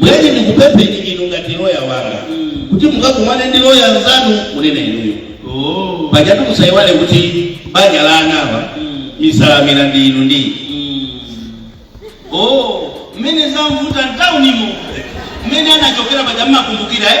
bwenzi ndikupempheni inu ngati loya wanga kuti mukakumane ndi loya nzanu munena inuyo Oh. pajatu musayiwale kuti banja la anawa misalamira ndi inu ndi Oh, mmene zamvuta mtaunimo mmene anachokera paja mumakumbukira eh?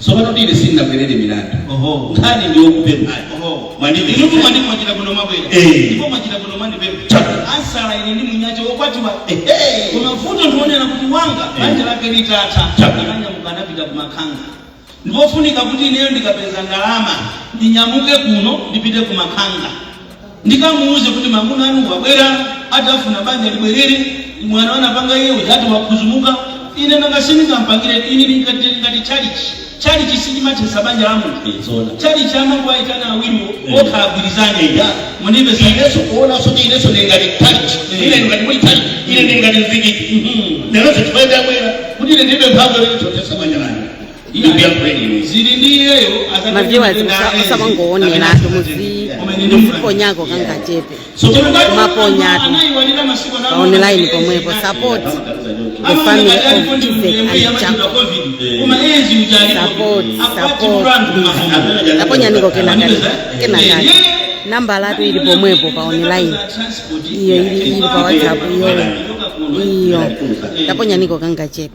Tsopano ndi ine sindinabwerere milandu. Oho. Nkhani ndi yokupemphani. Oho. Mwandipeza. Inutu mwandi mwachita bwino mwabwera. Eh. Ndipo mwachita bwino mwandipempha. Chabwino. Ansala ine ndi mnyamata wokwatiwa. Ehe. Koma vuto ndi yonena kuti wanga Eh. banja lake litatha. Chabwino. Ananyamuka anapita kumakhanga. Ndipofunika kuti ineyo ndikapeza ndalama ndinyamuke kuno ndipite kumakhanga. Ndikamuuze kuti mamuna anu wabwera ati afuna banja libwerere, mwano anapanga iye uja ati wadzudzumuka, ine nanga sindingampangire ine ndili ngati ndili ngati tchalitchi. Tchalitchi sichimathetsa banja la munthu. Ee, zoona. Tchalitchi amangowaitana awiriwo Eh. okha agwirizane. Ya. Mundimve sa- ineso kuonaso kuti ineso ndili ngati tchalitchi Mm. ine ndili ngati muli tchalitchi ine ndili ngati mzikiti Mhm. neronso chifukwa ndabwera kuti ine ndilibe mphamvu yoti ndithetsa banja langa maviewers osamangowoneratu muziponyako kangachepe mumaponyatu pa online pomwepo support the family of Isaac and Jacob support support Isaac taponyaniko kenakati kenakati nambalatu ili pomwepo pa online iyo ili ili pa whatsapp iyo iyo taponyaniko kangachepe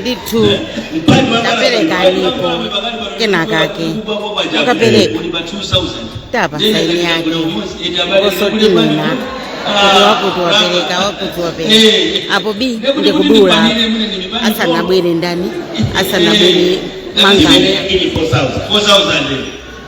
ndithu taperekaniko kenakake mukapereka tapa saini yake kusonyeza kuti wakuti wapereka wakuti wapereka apo bi ndi kudula asanabwere ndani asanabwere Manganya 4,000.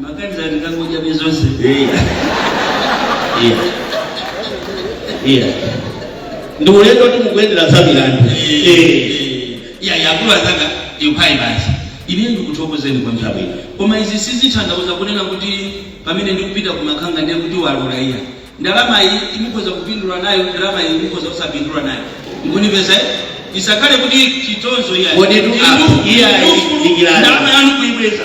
Maganiza ndikangoja bezonse. Iya. Iya. Iya. Ndi ulendo kuti mukuyendera za milandu. Eh. Eh. Iya yakulu azanga ndiuphai basi. Ine ndikuthokozeni kwa nthawi. Chabwino. Koma izi sizitanthauza kunena kuti pamene ndikupita kumakhanga ndiye kuti walula iya. Ndalama iyi mukhoza kupindula nayo, ndalama iyi mukhoza kusapindula nayo. Mukundipeza eh? Isakhale kuti chitonzo iya. Kodi tu- ah, iya, ikilani. Ndalama yanu kuibweza.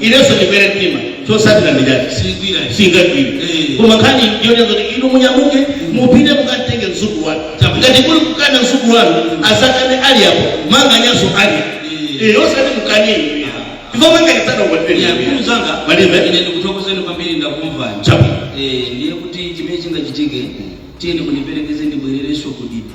inenso ndimene mtima chotsatira ndi chakuti Sigwira. singagwire Eh. koma nkhani ndiyonena kuti inu munyamuke mupite mukatenge mzukulu wanu Chabu. ngati kuli kukana mzukulu wanu asakane ali apo Manganyanso ali Eh. Eh, osati mukane ndipo manganyasana ukwatire Yakulu zanga. Malibe. Ine ndikuthokozeni kwambiri ndakumvani. Chabu. Eh, ndiye kuti chimene chingachitike tiyeni mundiperekeze ndibwererenso kudipa.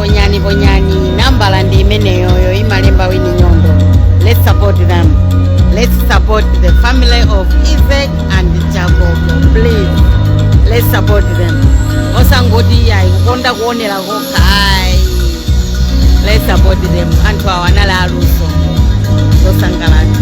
ponyani ponyani nambala ndi imeneyoyo imalemba wini nyondo let's support them let's support the family of isaac and jacob please let's support them osangoti ayi kukonda kuonera kokha ayi let's support them anthu awa anali aluso osangalatsa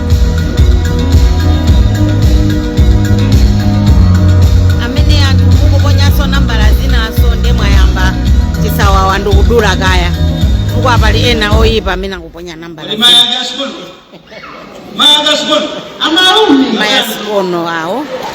amene anthu mukuponyaso nambala zinazo nde mwayamba chisawawa ndikudula kaye chifukwa pali ena oyipa amene akuponya nambala mayasikono awo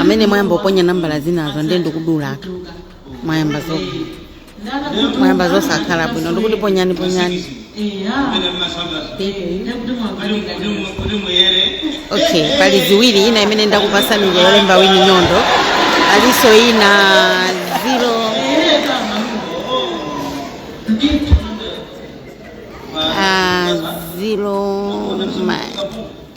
amene mwayamba kuponya nambala zinazo ndiye ndikudula kaye mwayamba zo mwayamba zosakhala bwino ndikuti ponyani ponyani okay pali ziwiri ina imene ndakupasani ndi yolemba wini nyondo palinso ina zero zero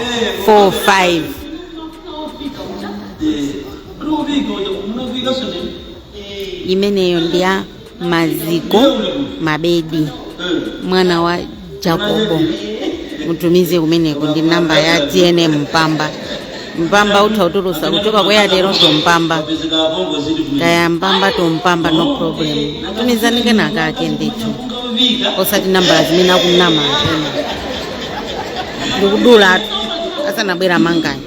4706645 imeneyo ndi ya maziko mabedi mwana wa jacobo mutumize kumeneko ndi namba ya tnm mpamba mpamba utha kutulusa kuchoka ku airtel to mpamba kaya mpamba to mpamba no problem tumizani kangachepe ndithu osati nambala zimene akunama enawa ndikudula asanabwera manganya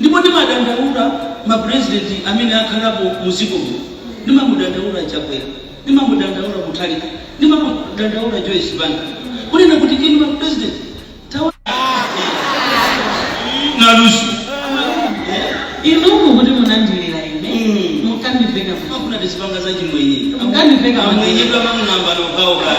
Ndipo ndimadandaula ma president amene akhalapo mu dziko muno. Ndimamudandaula Chakwera, ndimamudandaula Mutharika, ndimamudandaula Joyce Banda kunena kuti inu ma president taonani luso Inu mukuti munandilira ine, Mm. mukandiveka kuti. akuna tizipanga za chimwenye Mukandiveka kuti. amwenyedwa mamulambano kawo kale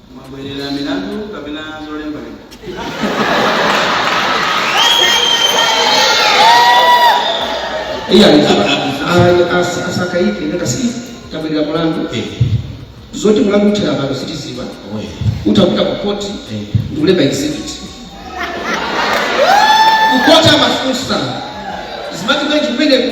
mwabwerera milandu kapena zolembalemba iya asakaike ndakasi tabwerera mulandu zoti mulandu uthera pano sitidziwa utapita ku koti ndikulemba exhibit kukota mafunsa zimati bwenji kumeneko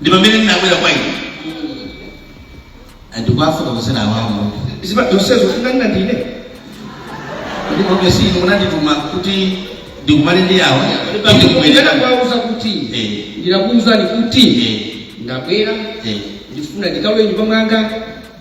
Ndi pamene ndinabwera kwa inu and kuwafotokozera awa mudziwa zonsezo zinganena ndine kuti obviously inu munandituma kuti ndikumane ndi awa kuti ndikubwera kuwauza kuti ndinakuwuzani kuti ndabwera ndifuna ndikalowe mnyumba mwanga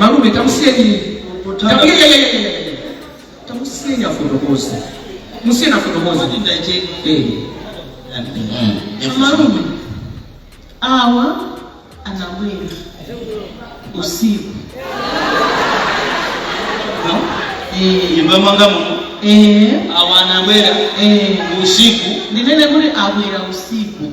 malume tamusiyeni tamusiyeni afotokoze musiyeni afotokoze malume awa anabwera usiku mamuna wangayu awa anabwera usiku ndinene kuti abwera usiku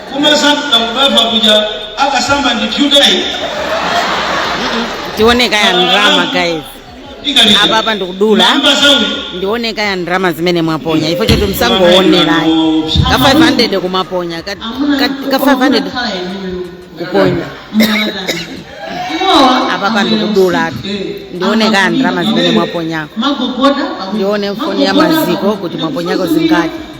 Koma sankha kubafa kuja akasamba ndi pyuta iyi. tione kaye ndrama guys Ikali. apa apa ndikudula Mamba zawi. ndione kaye ndrama zimene mwaponya ifo choti musangoonerayi ka 500 kumaponya ka, ka, ka 500 kuponya apa apa ndikudula ndione kaye ndrama zimene mwaponyako ndione mfoni ya maziko kuti mwaponyako zingati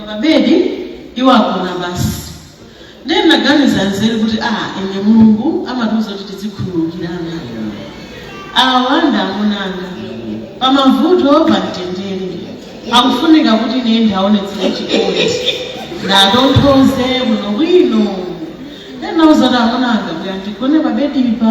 pabedi iwo agona pansi ndiye ndinaganiza nzeru kuti a ine mulungu amatiuza kuti tizikhululukirana awa ndi amunanga pamavuto pamtendere akufunika kuti ine ndiaonetsere chikondi ndatonthoze bwinobwino ndinauza kuti amunanga kuti adzigone pabedipa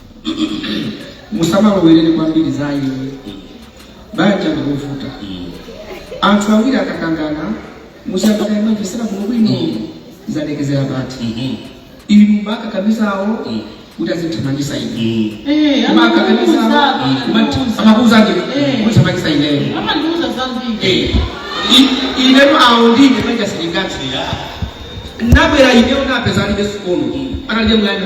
musamalowerere kwambiri zayi banja ndikuvuta anthu awiri akakangana musamakayambe mvesera kuno bwino zadekezera pati inu mukakamiza awo kuti azithamangisa ine Eh, Koma akakamiza amatiuza. amakuuzanji Eh. kuti thamangisa ineyo amandiuza zambiri Eh, i- ineyo awo ndine manja lende ngati nabwera ineyo napeza alibe sikono analibe mwana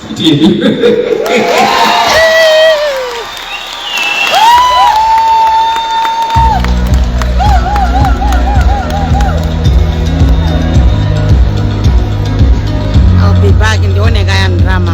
I'll be back ndione kaya ndrama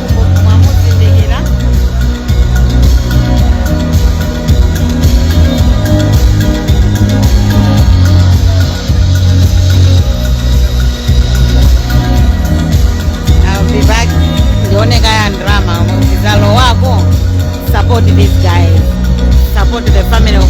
I'll be back. Ndione kaya drama ukizalo wako. Support these guys. Support the family of